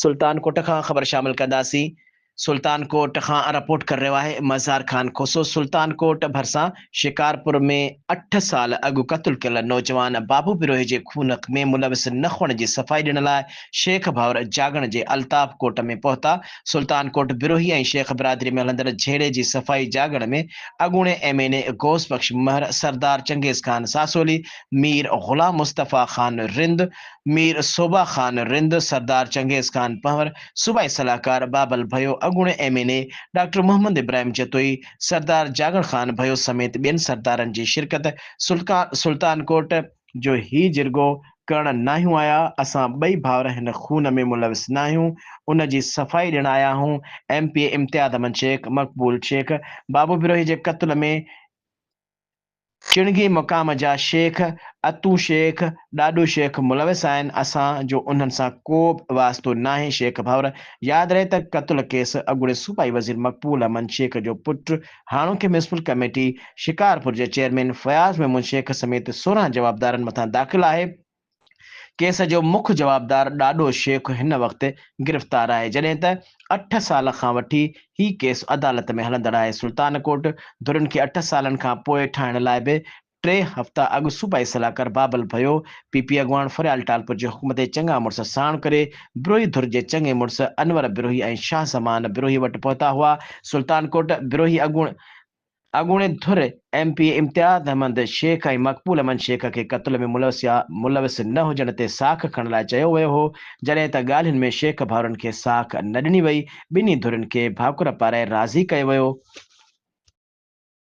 سلطان ڪوٽ کان خبر شامل ڪنداسين. سلطان ڪوٽ کان رپورٽ ڪري رهيو آهي مزار خان کوسو. سلطان ڪوٽ ڀرسان شڪارپور ۾ اٺ سال اڳ قتل ڪيل نوجوان بابو بروهي جي خون ۾ ملوث نخوڻ جي صفائي ڏيڻ لاء شيخ ڀائور جاڳڻ جي الطاف ڪوٽ ۾ پهتا. سلطان ڪوٽ بروهي ۽ شيخ برادري ۾ هلندڙ جهيڙي جي صفائي جاڳڻ ۾ اڳوڻي M N A Ghaus Bakhsh Mahar, Sardar Changez Khan Sasoli, Mir Ghulam Mustafa Khan Rind, Mir Soba Khan Rind, سردار چنگيز خان پنهور، صوبائي صلاحڪار بابل ڀيو، اڳوڻي M N A doctor Muhammad Ibrahim Jatoi, Sardar Jagan Khan Bhayo سميت ٻين سردارن جي شرڪت سلطان ڪوٽ، جو هي جرڳو ڪرڻ ناهيون آيا، اسان ٻئي ڀائر هن خون ۾ ملوث ناهيون، ان جي صفائي ڏيڻ آيا آهون، M P A Imtiaz Ahmed Shaikh, Maqbool Shaikh, بابو بروهي جي قتل ۾. چڻگي مقام جا شيخ اتو شيخ ڏاڏو شيخ ملوث آهن اسان جو انهن سان ڪوبه واسطو ناهي شيخ ڀاور ياد رهي ته قتل ڪيس اڳوڻي صوبائي وزير مقبول احمد شيخ جو پٽ هاڻوڪي ميونسپل ڪميٽي شڪارپور جي چيئرمين فياض محمود شيخ سميت سورهن جوابدارن مٿان داخل آهي ڪيس جو مک جوابدار ڏاڏو شيخ هن وقت گرفتار آهي جڏهن ته اٺ سال کان وٺي هي ڪيس عدالت ۾ هلندڙ آهي، سلطان ڪوٽ ڌرين کي اٺ سالن کان پوء ٺاهڻ لاء به ٽي هفتا اڳ صوبائي صلاحڪار بابل ڀيو، پي پي اڳواڻ فريال ٽالپر جي حڪم تي چڱا مڙس ساڻ ڪري بروهي ڌر جي چڱي مڙس انور بروهي ۽ شاهه زمان بروهي وٽ پهتا هئا، سلطان ڪوٽ بروهي اڳوڻي اڳوڻي ڌر M P A Imtiaz Ahmed Shaikh ۽ Maqbool Ahmed Shaikh کي قتل ۾ ملوث يا ملوث نه هجڻ تي ساک کڻڻ لاء چيو ويو هو، جڏهن ته ڳالهين ۾ شيخ ڀائرن کي ساک نه ڏني وئي، ٻنهي ڌرين کي ڀاڪر پارائي راضي ڪيو ويو.